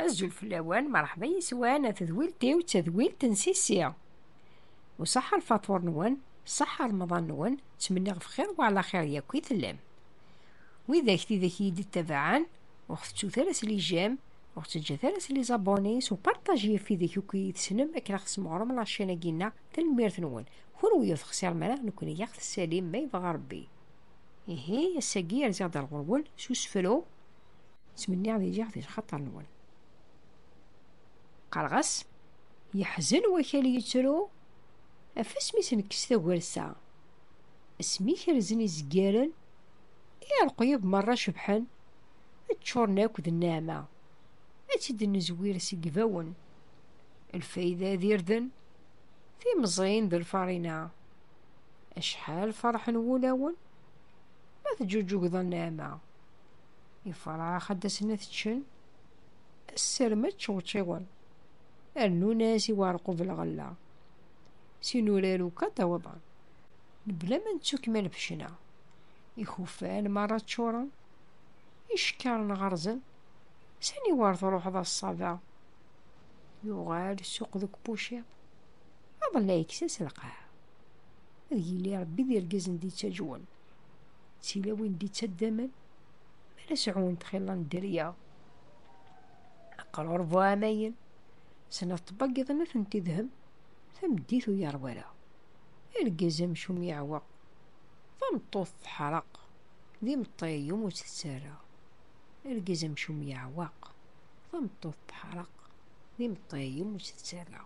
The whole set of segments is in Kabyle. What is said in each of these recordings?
Azul fell-awen, merḥba yeswan, a tedwilt-iw d tadwilt n Sisi. Uṣaḥa lfaṭur-nwen, ṣaḥa remḍan-nwen, ttmenniɣ bxir wala xir yakk i tellam. Widak tidak iyi-d-ittabaɛen, ur ɣ-tettu ara s lijam, ur ɣ-teǧǧat ara s lizabuni, s uparṭaj yif widak akk iyi-tessnem akken ad ɣ-tesmeɣrem laččan-agi-nneɣ, tanemmirt-nwen. Kenwi ur texsirem ara, nekkni a ɣ-tessalim ma yebɣa Rebbi. Ihi, ass-agi rziɣ-d ar ɣur-wen s usefru, ttmenniɣ di liɣ di lxaṭer-nwen. Qqareɣ-as, yeḥzen wakal yettru, af asmi s-nekkes tagersa. Asmi kerzen izgaren, i rreqyub merra cebḥen, ččuren akk d nneɛma. Ad tt-id-nezwir seg ibawen. Lfayda d irden, timẓin d lfarina. Acḥal ferḥen wulawen ma teǧuǧugeḍ a nneɛma. Ifrax ad d-asen ad ččen sser ma ččewčiwen. Rnun-as i uɛerqub lɣella. S inurar akk ad d-awḍen. Mebla ma nettu kmal fecna. Ikufan merra ččuren. Icekkaren ɣerzen. Sani war truḥeḍ a ṣṣaba? Yuɣal ssuq deg puciḍ. Aḍellaɛ ikkes-as lqaɛ. Ad yili Ṛebbi d irgazen d-ittaǧwen, d tilawin d-ittaddamen, mi ara sɛun txilla n dderya. Aqrur bu ɛamayen, snat tbaggiḍin ur tent-idhem, tameddit ur yeṛwi ara. Argaz amcum yeɛweq, tameṭṭut teḥreq, d imeṭṭi iwumi ur tt-tettarra. Argaz amcum yeɛweq, tameṭṭut teḥreq, d imeṭṭi iwumi ur tt-tettarra.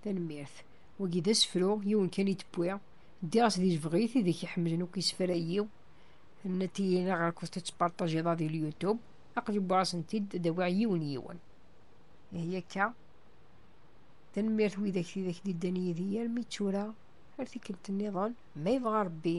Tanemmirt. Wagi d asefru, yiwen kan i d-wwiɣ. Ddiɣ-as di lebɣit, ideg iḥemmlen akk isefra-yi. Nati-yi neɣ akked tettpartajiḍ-a di l-YouTube. Aqli wwiɣ-asen-t-id, ad awiɣ yiwen yiwen. Ihi akka. Tanemmirt widak tidak d-iddan yid-i armi d tura, ar tikkelt-nniḍen, ma yebɣa Rebbi.